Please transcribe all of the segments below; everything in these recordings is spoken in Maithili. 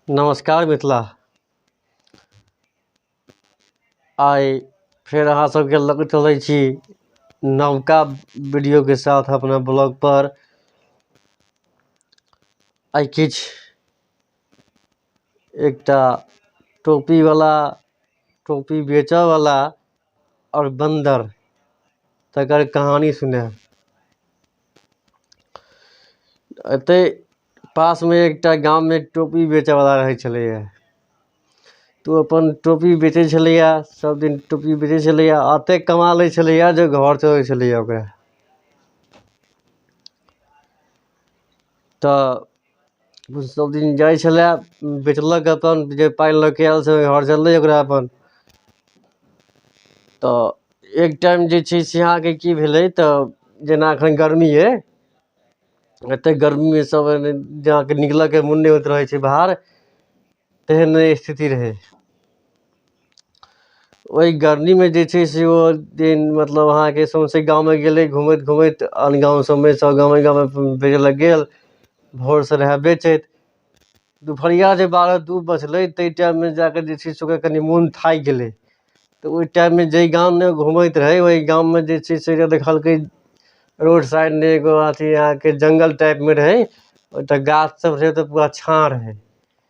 नमस्कार मिथिला आइ फेर अहाँ सबके लग चलै छी नवका वीडियो के साथ अपना ब्लॉग पर आइ किछु एकटा टोपी वाला टोपी बेचऽ वाला आओर बन्दर तकर कहानी सुनायब एतै पासमे एकटा गाममे टोपी बेचयवला रहै छलैए तऽ ओ अपन टोपी बेचै छलैए सभदिन टोपी बेचै छलैए आ एतेक कमा लै छलैए जे घर चलै छलैए ओकरा तऽ सभ दिन जाइ छलए बेचलक अपन जे पाइ लऽ कऽ आयल से घर चललै ओकरा अपन तऽ एक टाइम जे छै से अहाँके की भेलै तऽ जेना एखन गर्मी अइ एतेक गर्मीमे सभ एहिमे जे अहाँके निकलयके मोन नहि होइत रहै छै बाहर तेहन स्थिति रहै ओहि गर्मीमे जे छै से ओ दिन मतलब अहाँके सौँसे गाममे गेलै घूमैत घूमैत आन गाम सभमे सभ गामे गामे फिरय लेल गेल भोरसँ रहय बेचैत दुपहरिया जे बारह दू बजलै ताहि टाइममे जा कऽ जे छै से ओकर कनि मोन थाकि गेलै तऽ ओहि टाइममे जाहि गाममे घूमैत रहय ओहि गाममे जे छै से देखलकै रोड साइडमे एगो अथि अहाँके जङ्गल टाइपमे रहै ओतय गाछसभ रहै तऽ पूरा छाँह रहै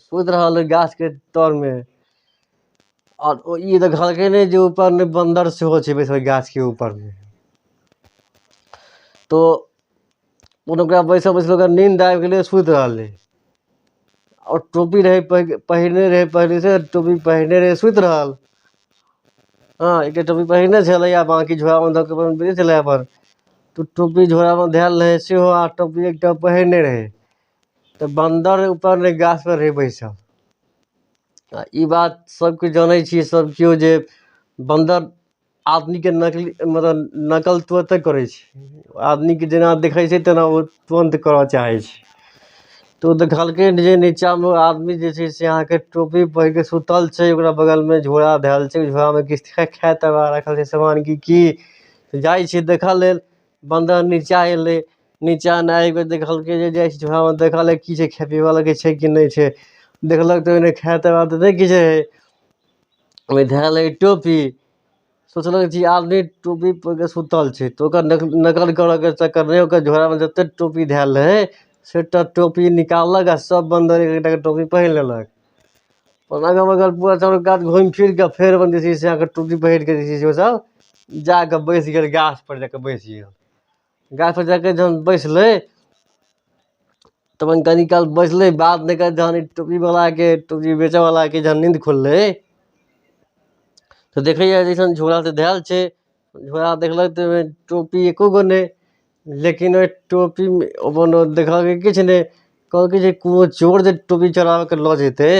सुति रहल ओहि गाछके तरमे आओर ओ ई देखलकै नहि जे ऊपरमे बन्दर सेहो छै बैसल ओहि गाछके ऊपरमे तो कोनो ओकरा बैसल बैसल ओकरा नींद आबि गेलै सुति रहलै आओर टोपी रहै पहि- पहिरने रहै पहिले से टोपी पहिरने रहै सुति रहल हँ एकटा टोपी पहिरने छलै आ बाँकी झोरामे दऽ कऽ अपन बैठे छलै अपन तो टोपी झोरामे धयल रहै सेहो आ टोपी एकटा पहिरने रहै तऽ बन्दर ऊपर नहि गाछपर रहै बैसल आ ई बात सभ केओ जनै छियै सभ केओ जे बन्दर आदमीके नकली मतलब नकल तुरन्ते करै छै आदमीकेँ जेना देखै छै तेना ओ तुरन्त करय चाहै छै तऽ ओ देखलकै जे नीचाँमे ओ आदमी जे छै से अहाँके टोपी पहिर कऽ सूतल छै ओकरा बगलमे झोरा धयल छै ओहि झोरामे किछु खाय ताय लेल राखल छै सामान कि की जाइ छै देखय लेल बन्दर नीचा एलै नीचा नहि आबि कऽ देखलकै जे जाइ छै वएहमे देखल की छै खाइ पीबै लए किछु छै कि नहि छै देखलक तऽ ओहिमे खाइ ताइ लए नहि किछु रहै ओहिमे धएल रहै टोपी सोचलक जे ई आदमी टोपी पहिर कऽ सुतल छै तऽ ओकर नक नकल करयके चक्करमे ओकर झोरामे जतेक टोपी धएल रहै सभटा टोपी निकाललक आ सभ बन्दरे एक एकटा कऽ टोपी पहिर लेलक अगल बगल पूरा चारू कात घुमि फिरि कऽ फेर अपन जे छै से अहाँके टुकड़ी पकड़ि कऽ जे छै से ओसभ जा कऽ बैस गेल गाछपर जा कऽ बैस गेल गाछपर जा कऽ जखन बैसलै तऽ अपन कनि काल बैसलै बात नहि कयलक जखन ई टुकड़ीवलाके टुकड़ी बेचयवलाके जखन नींद खुललै तऽ देखैए जे अइसन झोरासँ धयल छै झोरा देखलक तऽ ओहिमे टोपी एक्को गो नहि लेकिन ओहि टोपीमे कोनो देखलकै किछु नहि कहलकै जे कोनो चोर जे टोपी चोरा कऽ लऽ जेतै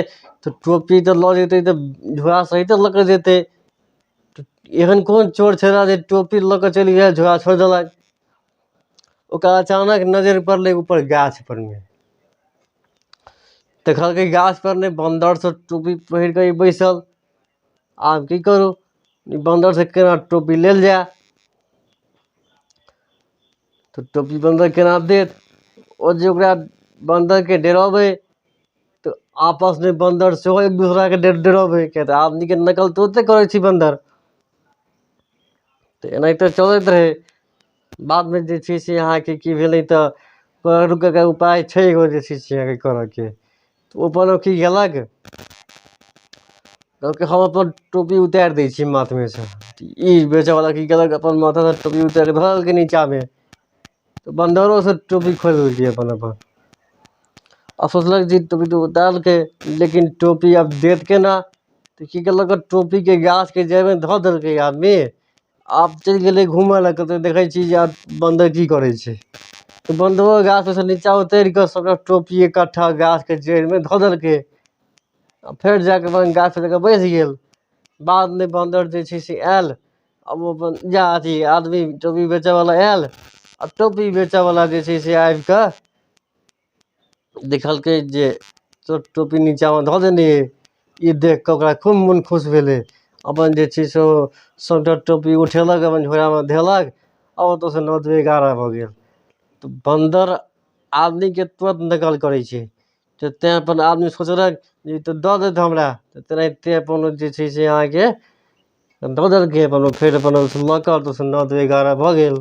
तऽ टोपी तऽ लऽ जेतै तऽ झोरा सहिते लऽ कऽ जेतै तऽ एहन कोन चोर छलए जे टोपी लऽ कऽ चलि गेल झोरा छोड़ि देलक ओकरा अचानक नजरि पड़लै ऊपर गाछपर मे देखलकै गाछपर मे बन्दरसभ टोपी पहिर कऽ बैसल आब की करू ई बन्दरसँ केना टोपी लेल जाय तऽ टोपी बन्दर केना देत ओ जे ओकरा बन्दरकेँ डराबै तऽ आपसमे बन्दर सेहो एक दोसराकेँ डर डराबै किएक तऽ आदमीके नकल तऽ ओतहि करै छै बन्दर तऽ एनाहिते चलैत रहै बादमे जे छै से अहाँके की भेलै तऽ उपाय छै एगो जे छै से अहाँके करयके तऽ ओ अपन अथी कयलक कहलकै हम अपन टोपी उतारि दै छी माथमे सँ ई बेचयवला की कयलक अपन माथासँ टोपी उतारि कऽ धऽ देलकै नीचाँमे तऽ बन्दरोसँ टोपी खोलि लेलकै अपन अपन आ सोचलक जे टोपी तऽ उतारि देलकै लेकिन टोपी आब देत केना तऽ की कयलक टोपीके गाछके जड़िमे धऽ देलकै आदमी आब चलि गेलै घूमय लए कतहु देखै छियै जे आब बन्दर की करै छै तऽ बन्दरो गाछपरसँ नीचाँ उतरि कऽ सभटा टोपी एकट्ठा गाछके जड़िमे धऽ देलकै आ फेर जा कऽ अपन गाछपर जा कऽ बैस गेल बादमे बन्दर जे छै से आयल आ ओ अपन जा अथि आदमी टोपी बेचयवला आयल आ टोपी बेचयवला जे छै से आबि कऽ देखलकै जे शर्ट टोपी नीचाँमे धऽ देने अइ ई देखि कऽ ओकरा खूब मोन खुश भेलै अपन जे छै से ओ शर्ट आ टोपी उठेलक अपन झोरामे धेलक आ ओतयसँ नओ दुइए एगारह भऽ गेल तऽ बन्दर आदमीकेँ तुरन्त नकल करै छै तऽ तैँ अपन आदमी सोचलक जे ई तऽ दऽ देत हमरा तऽ तेनाहिते अपन ओ जे छै से अहाँके दऽ देलकै अपन ओ फेर अपन ओहिसँ लऽ कऽ ओतयसँ नओ दुइए एगारह भऽ गेल